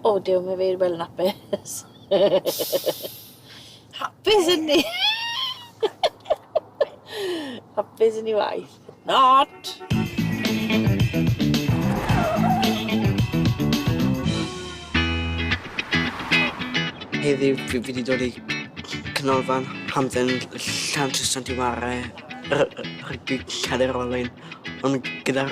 O, dew, mae fe i'r welyn apus. hapus yn ni! hapus yn ni waith. Not! Heddiw, fi wedi dod i canolfan hamdden llan trwy Sant Iware, rygbi cadr olwyn, ond gyda'r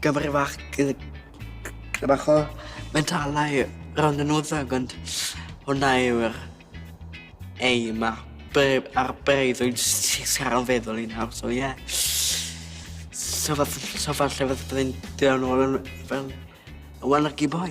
gyfrifach bach o mentalau rownd y nwyddog ond hwnna yw'r ei ma a'r breuddwyd sy'n o'n feddwl i'n hawdd so ie yeah. so falle so falle falle byddai'n dweud ôl yn fel y one lucky boy